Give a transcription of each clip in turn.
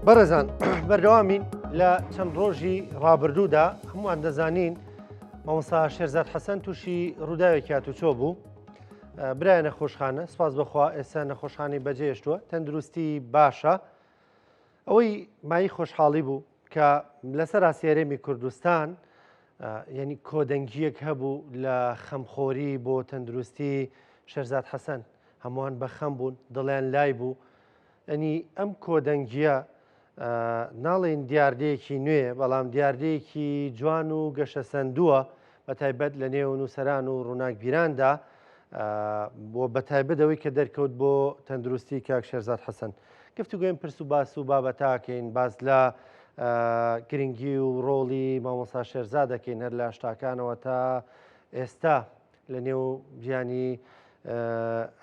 بەڕێزان بەردەوامین لە چەند ڕۆژی ڕابردوودا هەمووان دەزانین مامۆسا شێرزاد حەسەن تووشی ڕووداوێکی هاتوچۆ بوو برای نەخۆشخانە سپاس بەخوا ئێستا نەخۆشخانی بەجێشتووە تەندروستی باشە ئەوەی مای خۆشحاڵی بوو کە لەسەراسی هەرێمی کوردستان یعنی کۆدەنگیەک هەبوو لە خەمخۆری بۆ تەندروستی شەرزاد حەسەن هەمووان بە خەم بوون دڵیان لای بوو ئەنی ئەم کۆدەنگیە ناڵێن دیاردەیەکی نوێ بەڵام دیاردەیەکی جوان و گەشە سندووە بە تایبەت لە نێو نووسەران و ڕووناکبیراندا بۆ بە تایبەت ئەوەی کە دەرکەوت بۆ تەندروستی کاک شێرزاد حەسەن گفتوگوێن پرس و باس و بابەتاکەین باس لە گرنگی و ڕۆڵی مامۆسا شێرزا دەکەین هەر لە شتاکانەوە تا ئێستا لە نێو ژیانی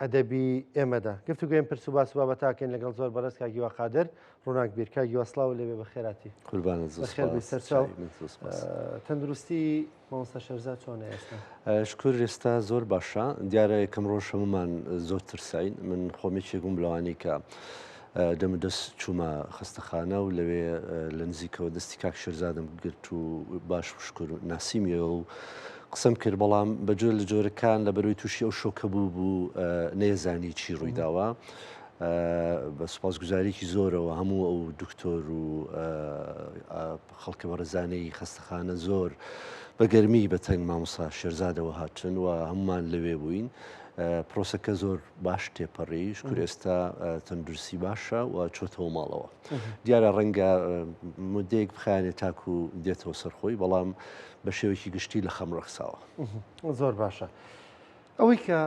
ئەدەبی ئێمەدا گفتوگوێم پرس و باس و بابەتاکەین لەگەڵ زۆر بەڕێز کاک هیوا قادر ڕووناکبیر کاک هیوا سڵاو لێبێ بە خێراتی قوربانت زۆر بەخێر بێی سوپاس سەرچاو چاوی من زۆر سوپاس. ئە، تەندروستی مامۆستا شێرزاد چۆنە ئێستا ئە، شکور ئێستا زۆر باشە دیارە یەکەم ڕۆژ هەموومان زۆر ترساین من خۆم یەکێک بووم لەوانەی کە دەم و دەست چوومە خەستەخانە و لەوێ لە نزیکەوە دەستی کاک شێرزادم گرت و باش شکر ناسیمیەوە و قسەم کرد بەڵام بە جۆر لە جۆرەکان لە بەرەوەی تووشی ئەو شۆکە بوو بوو نێزانی چی ڕوویداوە. بە سوپاس گوزاریکی زۆرەوە هەموو ئەو دکتۆر و خەڵکە بەڕێزانەی خەستەخانە زۆر بە گەرمی بە تەنگ مامۆسا شێرزادەوە هاتن و هەمووان لەوێ بووین. پرۆسەکە زۆر باش تێپەڕی شکر ئێستا تەندروستی باشە و چۆتەوە ماڵەوە دیارە ڕەنگە مدەیەک بخانێت تاکو دێتەوە سەرخۆی بەڵام بە شێوەیەکی گشتی لە خەم ڕەخساوە زۆر باشە. ئەوەی کە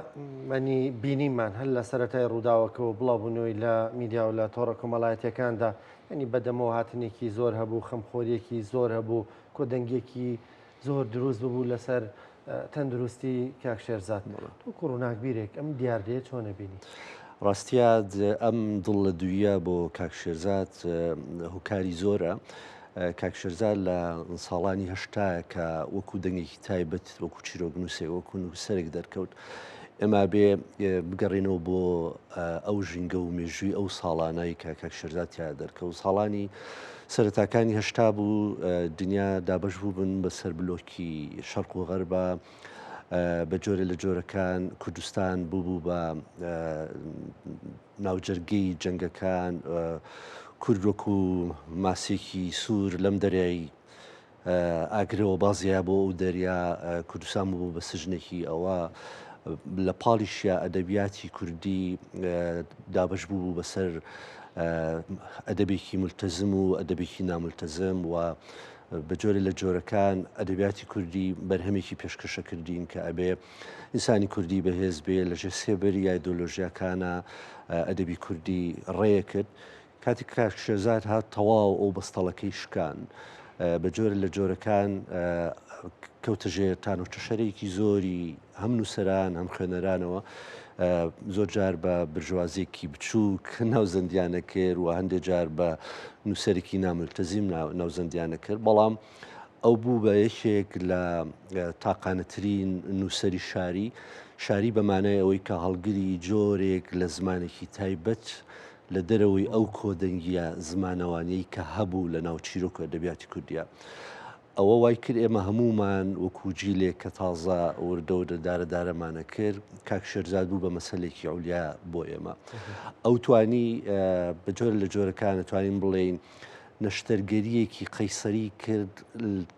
مەنی بینیمان هەر لە سەرەتای ڕووداوەکەەوە بڵاوبوونەوەی لە میدیا و لە تۆڕە کۆمەڵایەتەکاندا ینی بەدەمەوە هاتنێکی زۆر هەبوو خەمخۆریەکی زۆر هەبوو کۆدەنگێکی زۆر دروست ببوو لەسەر تەندروستی کاکشێرزاد وەکو ڕووناکبیرێک ئەم دیاردەیە چۆنە بینی ڕاستیاد ئەم دڵ لە دوویە بۆ کاکشێرزاد هوکاری زۆرە کاک شێرزاد لە ساڵانی هەشتایا کە وەکو دەنگێکی تایبەت وەکو چیرۆکنووسێک وەکو نووسەرێک دەرکەوت ئێما بێ بگەڕێنەوە بۆ ئەو ژینگە و مێژووی ئەو ساڵانایی کە کاک شێرزاد تیا دەرکەوت ساڵانی سەرەتاکانی هەشتا بوو دنیا دابش بوو بن بەسەر بلۆکی شەرق و غەربە بە جۆرە لە جۆرەکان کوردستان بوو بوو بە ناوجەرگەی جەنگەکان، کورد وەکو ماسێکی سوور لەم دەریای ئاگرەوە بازیایە بۆ ئەو دەریا، کوردستان بوو بە سجنێکی ئەوە، لە پاڵیشیا ئەدەبیاتی کوردی دابەش بوو بەسەر ئەدەبێکی مولتەزم و ئەدەبێکی نامولتەزم و بە جۆرێ لە جۆرەکان ئەدەبیاتی کوردی بەرهەمێکی پێشکەشە کردین کە ئەبێ ئینسانی کوردی بەهێز بێ لە ژێر سێبەری ئایدۆلۆژیاکانا ئەدەبی کوردی ڕێیە کرد کاتی کاک شێزار هات تەواو ئەو بەستەڵەکەی شکان بە جۆرە لە جۆرەکان کەوتە ژێر تانۆچە شەرێکی زۆری هەم نووسران هەم خوێنەرانەوە زۆر جار بە برژوازێکی بچووک ناوزەندیانە کرد و هەندێک جار بە نووسەرێکی ناملتەزیم ناوزەندیانە کرد بەڵام ئەو بوو بە یەکێک لە تاقانەترین نووسری شاری شاری بەمانای ئەوەی کە هەڵگری جۆرێک لە زمانێکی تایبەت لە دەرەوەی ئەو کۆدەنگیە زمانەوانیی کە هەبوو لە ناو چیرۆک و ئەدەبیاتی کوردیا ئەوە وای کرد ئێمە هەمومان وەکو جیلێک کە تازە وردە و دەدارە دارەمانە کرد کاک شێرزاد بوو بە مەسلێکی ئەولیا بۆ ئێمە ئەو توانی بە جۆر لە جۆرەکانە توانین بڵێین نەشتەرگەرییەکی قەیسەری کرد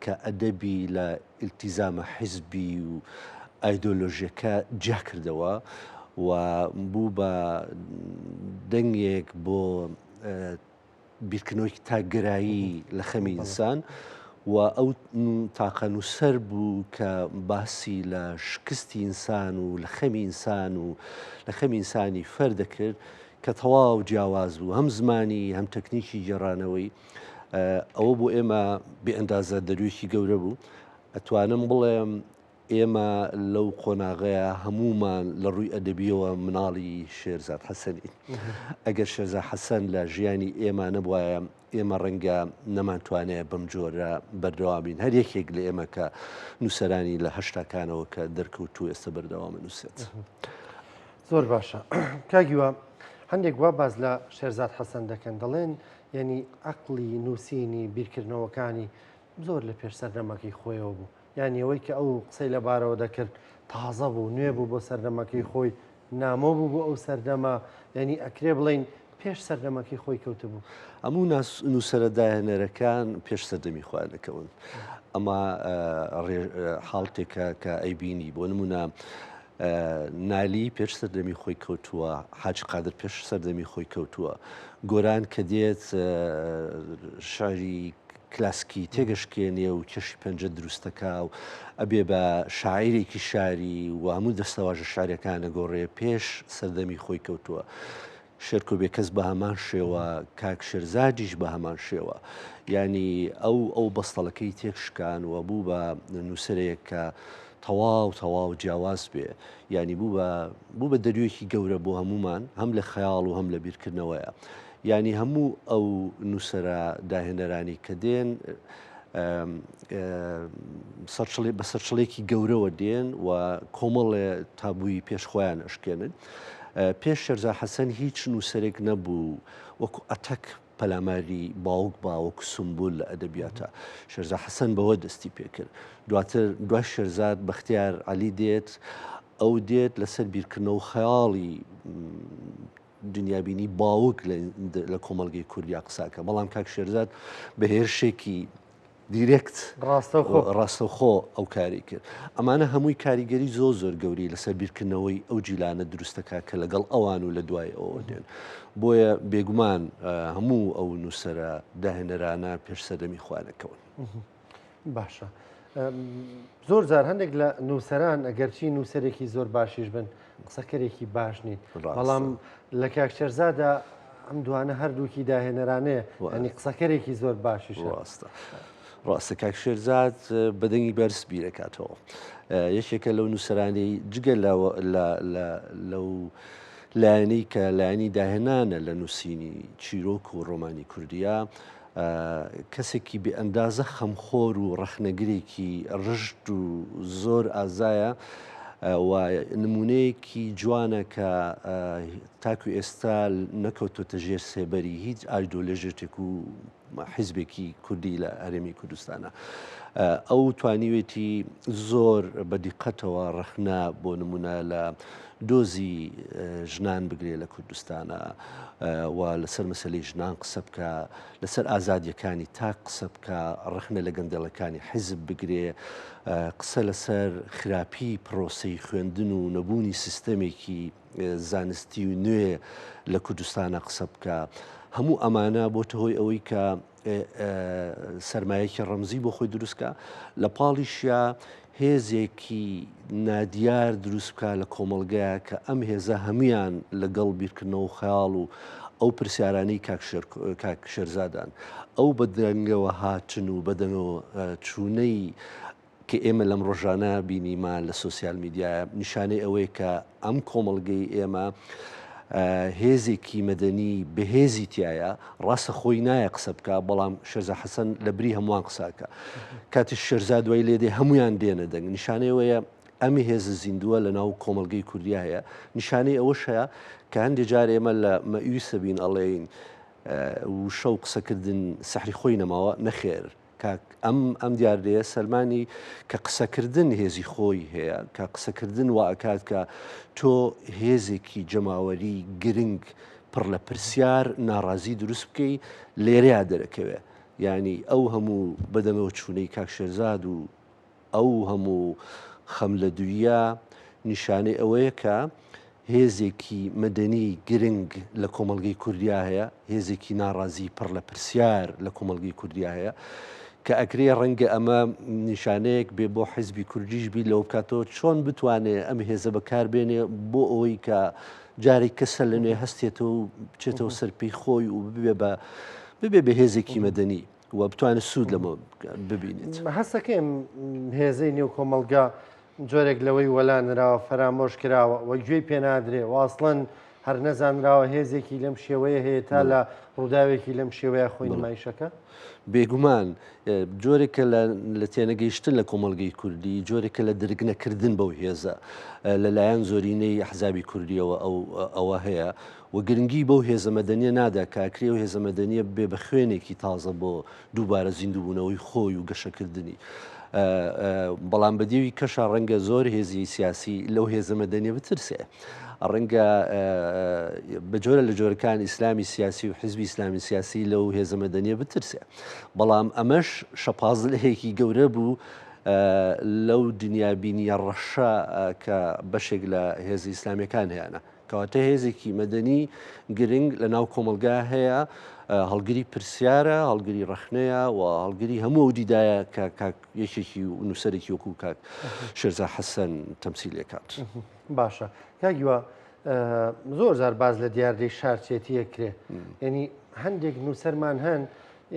کە ئەدەبی لە ئیلتیزامە حیزبی و ئایدۆلۆژیەکە جیا کردەوە و بوو بە دەنگێک بۆ بیرکردنەوەیەکی تاکگەرایی لە خەمی ئینسان و ئەو تاقە نووسەر بوو کە باسی لە شکستی ئینسان و لە خەمی ئینسان و لە خەمی ئینسانی فەر دەکرد کە تەواو جیاواز بوو هەم زمانی هەم تەکنیکی گێڕانەوەی ئەوە بۆ ئێمە بێ ئەندازە دەروێکی گەورە بوو ئەتوانم بڵێم ئێمە لەو قۆناغەیە هەمومان لە ڕووی ئەدەبیەوە مناڵی شێرزاد حەسەنین ئەگەر شێرزا حەسەن لە ژیانی ئێمانە بواە ئێمە ڕەنگە نەمانتوانێ بەم جۆرە بەردەوام بین، هەر یەکێک لە ئێمە کە نووسەرانی لە هەشتاکانەوە کە دەرکەوتوو ئێستا بەردەوام ئەنووسێت. زۆر باشە کاک هیوا، هەندێک وا باس لە شێرزاد حەسەن دەکەن، دەڵێن یانی عەقڵی نووسینی، بیرکردنەوەکانی زۆر لەپێش سەردەمەکەی خۆیەوە بوو. یانی ئەوەی کە ئەو قسەی لە بارەوە دەکرد تازە بوو نوێ بوو بۆ سەردەمەکەی خۆی نامۆ بوو بۆ ئەو سەردەمە یعنی ئەکرێ بڵین پێش سەردەمەکەی خۆی کەوتبوو هەموو نووسرە داهێنەرەکان پێش سەردەمی خۆیان دەکەون ئەمە حاڵتێکە کە ئەیبینی بۆ نمونە نالی پێش سەردەمی خۆی کەوتووە حاج قادر پێش سەردەمی خۆی کەوتووە گۆران کە دێت شاری کلاسکی تێگەشکێنێ و کێشی پەنجە دروست دەکا و ئەبێ بە شاعیرێکی شاری و هەموو دەستەواژە شاریەکان ئەگۆڕێ پێش سەردەمی خۆی کەوتووە. شێرکۆ بێکەس بە هەمان شێوە کاک شێرزادیش بە هەمان شێوە ینی ئەو ئەو بەستەڵەکەی تێک شکان و بوو بە نووسەرەیەک کە تەواو تەواو جیاواز بێ ینی بوو بە بوو بە دەروێکی گەورە بۆ هەمومان هەم لە خەیاڵ و هەم لە بیرکردنەوەیە یانی هەموو ئەو نووسەرە داهێنەرانی کە دێن سەرچڵی بە سەرچڵێکی گەورەوە دێن و کۆمەڵێ تابووی پێشخۆیان ئەشکێنن پێش شەرزا حەسەن هیچ نووسەرێک نەبوو وەکو ئەتەک پەلاماری باوک باوەکو سمبول لە ئەدەبیاتە شەرزا حەسەن بەوە دەستی پێکرد دواتر دوای شەرزاد بەختیار علی دێت ئەو دێت لەسەر بیرکردنەوە خەیاڵی دنیابینی باوک لە کۆمەلگەی کوردیا قساکە بەڵام کاک شێرزاد بە هێرشێکی دیرێکت ڕاستەخۆ ئەو کاری کرد ئەمانە هەمووی کاریگەری زۆ زۆر گەوری لەسەر بیرکردنەوەی ئەو جیلانە دروستەکە کە لەگەڵ ئەوان و لە دوای ئەوە دێن بۆیە بێگومان هەموو ئەو نووسرە داهێنەرانە پێش سەردەمی خوانەکەون. باشە زۆر جار هەندێک لە نووسەران ئەگەرچی نووسەرێکی زۆر باشیش بن قسەکەرێکی باش نین بەڵام لە کاکچەرزادا ئەم دوانە هەردووکی داهێنەرانەیە ئەنی قسەکەرێکی زۆر باشیش ڕاستە. ڕاستە کاک شێرزاد بەدەنگی بەرز بیرەکاتەوە یەکێکە لەو نووسرانی جگە لەو لایەنەی کە لایەنی داهێنانە لە نووسینی چیرۆک و ڕۆمانی کوردیا کەسێکی بێ ئەندازە خەمخۆر و ڕەخنەگرێکی ڕژد و زۆر ئازایە و نمونەیەکی جوانە کە تاکو ئێستا نەکەوتۆتە ژێر سێبەری هیچ ئایدۆلێژێتێک و حیزبێکی کوردی لە هەرێمی کوردستانە. ئەو توانیوێتی زۆر بە دیقەتەوە ڕەخنا بۆ نمونە لە دۆزی ژنان بگرێ لە کوردستانا و لەسەر مەسلی ژنان قسە بکە لەسەر ئازادیەکانی تاک قسە بکە ڕخنە لە گەندێڵەکانی حیزب بگرێ قسە لەسەر خراپی پرۆسی خوێندن و نەبوونی سیستەمێکی زانستی و نوێ لە کوردستانە قسە بکە هەموو ئەمانە بۆتە هۆی ئەوەی کە سەرمایەکی ڕەمزی بۆ خۆی دروستکە لە پاڵیشیا هێزێکی نادیار دروست بکە لە کۆمەلگەیە کە ئەم هێزە هەمویان لەگەڵ بیرکردنەوە خەیاڵ و ئەو پرسیارانی کاکشێرزادان ئەو بە درەنگەوە هاتن و بەدەنەوە چوونەی کە ئێمە لەم ڕۆژانە بینیمان لە سۆسیال میدیا نیشانەی ئەوەیە کە ئەم کۆمەڵگەی ئێمە هێزێکی مەدەنی بەهێزی تایە ڕاستە خۆی نایە قسە بکە بەڵام شەرزە حەسەن لە بری هەمووان قساکە کاتی شەرزا دوای لێدێ هەمویان دێنە دەنگ نیشانەیەوەیە ئەمی هێزە زیندووە لە ناو کۆمەلگەی کوردیا هەیە نیشانەی ئەوە شەیە کە هەندێک جار ئێمە لە مەویسەبین ئەڵێین وشە و قسەکردن سەحری خۆی نەماوە نەخێر کاک، ئەم ئەم دیاردەیە سەلمانی کە قسەکردن هێزی خۆی هەیە، کە قسەکردن وا ئەکات کە تۆ هێزێکی جەماوەری گرنگ پڕ لە پرسیار، ناڕازی دروست بکەی، لێرەیا دەرەکەوێ یانی ئەو هەموو بەدەمەوە چوونەی کاک شێرزاد و، ئەو هەموو خەملەدووییە نیشانەی ئەوەیە کە هێزێکی مەدەنی گرنگ لە کۆمەڵگەی کوردیا هەیە، هێزێکی ناڕازی پڕ لە پرسیار لە کۆمەڵگەی کوردیا هەیە. کە ئەکرێ ڕەنگە ئەمە نیشانەیەک بێ بۆ حیزبی کوردیش بی لەوە بکاتەوە چۆن بتوانێت ئەم هێزە بەکاربێنێ بۆ ئەوەی کە جارێک کەسە لە نوێ هەستێتەوە و بچێتەوە سەرپی خۆی و ببێ بە ببێ بە هێزێکی مەدەنی. و بتوانێت سوود لەمە ببینێت هەستەکەم هێزەی نێو کۆمەلگا جۆرێک لەوەی وەلا نراوە فەرامۆش کراوە وە گوێی پێنادرێ واصلەن هەر نەزانراوە هێزێکی لەم شێوەیە هەیە تا لە ڕووداوێکی لەم شێوەیە خۆی نمایشەکە بێگومان جۆرێکە لە تێنەگەیشتن لە کۆمەلگەی کوردی جۆرێکە لە درگنەکردن بەو هێزە لەلایەن زۆرینەی حزابی کوردیەوە ئەو ئەوە هەیە و گرنگی بەو هێزە مەدەنیە نادا کە ئەکری ئەو هێزە مەدەنیە ببێ بە خوێنێکی تازە بۆ دووبارە زیندووبوونەوەی خۆی و گەشەکردنی. بەڵام بە دێوی کەشا ڕەنگە زۆر هێزی سیاسی لەو هێزە مەدەنیە بترسێ. ڕەنگە بە جۆرە لە جۆرەکان ئیسلامی سیاسی و حزبی ئیسلامی سیاسی لەو هێزە مەدەنیە بترسێ. بەڵام ئەمەش شەپازلەیەکی گەورە بوو لەو دنیابینیە ڕەشە کە بەشێک لە هێزی ئیسلامیەکان هەیەە. کەواتە هێزێکی مەدەنی گرنگ لە ناو کۆمەلگا هەیە هەڵگری پرسیارە هەڵگری ڕخنەیە و هەڵگری هەموو ئەو دیدایە کە کاک یەکێکی و نووسەرێکی وەکو کاک شێرزا حەسەن تەمسی لێکات باشە کاگیوە زۆر زار باز لە دیاردەی شارچێتیە کرێ ینی هەندێک نووسەرمان هەن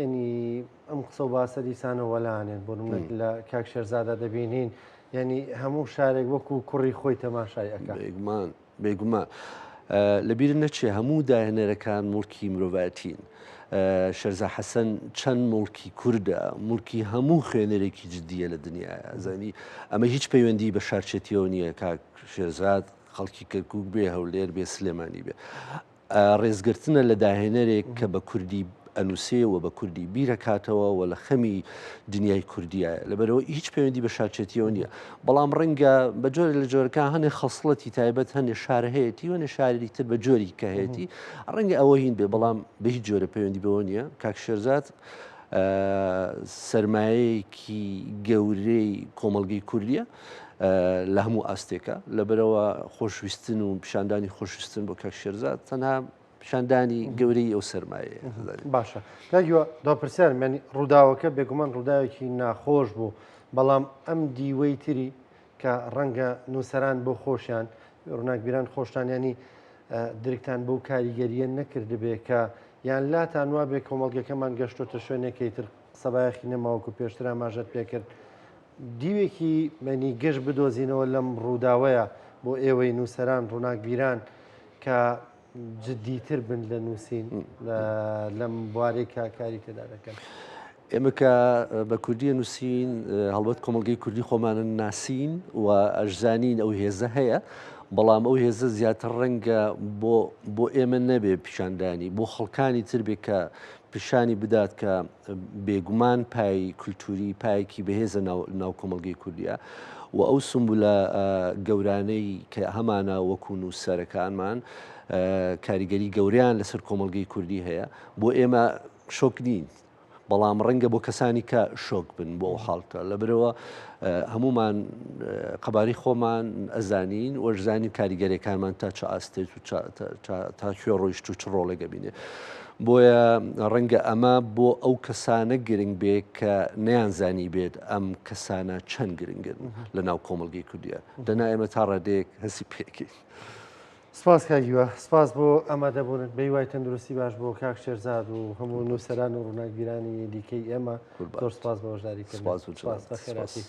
ینی ئەم قسە و باسە دیسانە وەلانێن بۆ منێک لە کاک شێرزادا دەبینین یعنی هەموو شارێک وەکو کوڕی خۆی تەماشای ئەەکە بێگومان بێگومان لەبیر نەچێ هەموو داهێنەرەکان مڵکی مرۆڤەتین شەرزا حەسەن چەند مڵکی کووردە مڵکی هەموو خوێنەرێکی جددیە لە دنیا زانی ئەمە هیچ پەیوەندی بە شارچێتیەوە نییە کاک شێرزاد خەڵکی کەرکک بێ هەولێر بێ سلێمانی بێ ڕێزگرتنە لە داهێنەرێک کە بە کوردی ئەنووسێ و بە کوردی بیرەکاتەوە و لە خەمی دنیای کوردیایە لەبەرەوە هیچ پەیوەندی بە شارچێتیەوە نییە بەڵام ڕەنگە بە جۆرە لە جۆرەکە هەنێ خەسڵەتی تایبەت هەنێ شار هەیەی وەێ شاری تر بە جۆری کە هەیەی ڕەنگە ئەوە هین بێ بەڵام بە هیچ جۆرە پەیوەندی بەوە نییە کاک شێرزاد سرمایەیەکی گەورەی کۆمەلگەی کوردیە لە هەموو ئاستێکە لەبەرەوە خۆشویستن و پیشاندانی خۆشویستن بۆ کاک شێرزاد تەنها پیشاندانی گەورەی ئەو سەرمایە باشە کاگیوە داپرسیار مێنی ڕووداوەکە بێگومان ڕووداوێکی ناخۆش بوو بەڵام ئەم دیوەی تری کە ڕەنگە نووسەران بۆ خۆشیان ڕووناکبیران خۆشتانیانی درکتان بەو کاریگەریە نەکردبێ کە یان لاتان وابێ کۆمەڵگەکەمان گەشتۆتە شوێنێکی تر سەبایەخی نەماوەکو پێشتر ئاماژەت پێکرد دیوێکی مەنی گەش بدۆزینەوە لەم ڕووداوەیە بۆ ئێوەی نووسەران ڕووناکبیران کە جددیتر بن لە نووسین لەم بوارەی کە کاری تێدا دەکەن. ئێمە کە بە کوردی نووسین هەڵبەت کۆمەلگەی کوردی خۆمانن ناسین و ئەشزانین ئەو هێزە هەیە بەڵام ئەو هێزە زیاتر ڕەنگە بۆ ئێمە نەبێ پیشاندانی بۆ خەڵکانی تر بێ کە پیشانی بدات کە بێگومان پای کولتووری پایەکی بەهێزە ناو کۆمەڵگەی کوردیا و ئەو سمبولە گەورانەی کە هەمانە وەکو نووسەرەکانمان کاریگەری گەوریان لەسەر کۆمەلگەی کوردی هەیە بۆ ئێمە شۆک نین بەڵام ڕەنگە بۆ کەسانی کە شۆک بن بۆ ئەو حاڵتە لە برەوە هەمومان قەباری خۆمان ئەزانین وەرزانین کاریگەرەکانمان تا چ ئاستێت و تا کوێ ڕۆیشت و چ ڕۆڵێگە بینێ بۆیە ڕەنگە ئەمە بۆ ئەو کەسانە گرنگ بێ کە نەیانزانی بێت ئەم کەسانە چەند گرنگن لە ناو کۆمەلگەی کوردیا دەنا ئێمە تا ڕادەیەک هەسی پێکەین. سپاس کاک هیوا سپاس بۆ ئامادەبوونت بە هیوای تەندروستی باش بۆ کاک شێرزاد و هەموو نووسەران و ڕووناکبیرانی دیکەی ئێمە زۆر سپاس بە بەشداریکردنت سپاس و سپاس بە خێراتیت.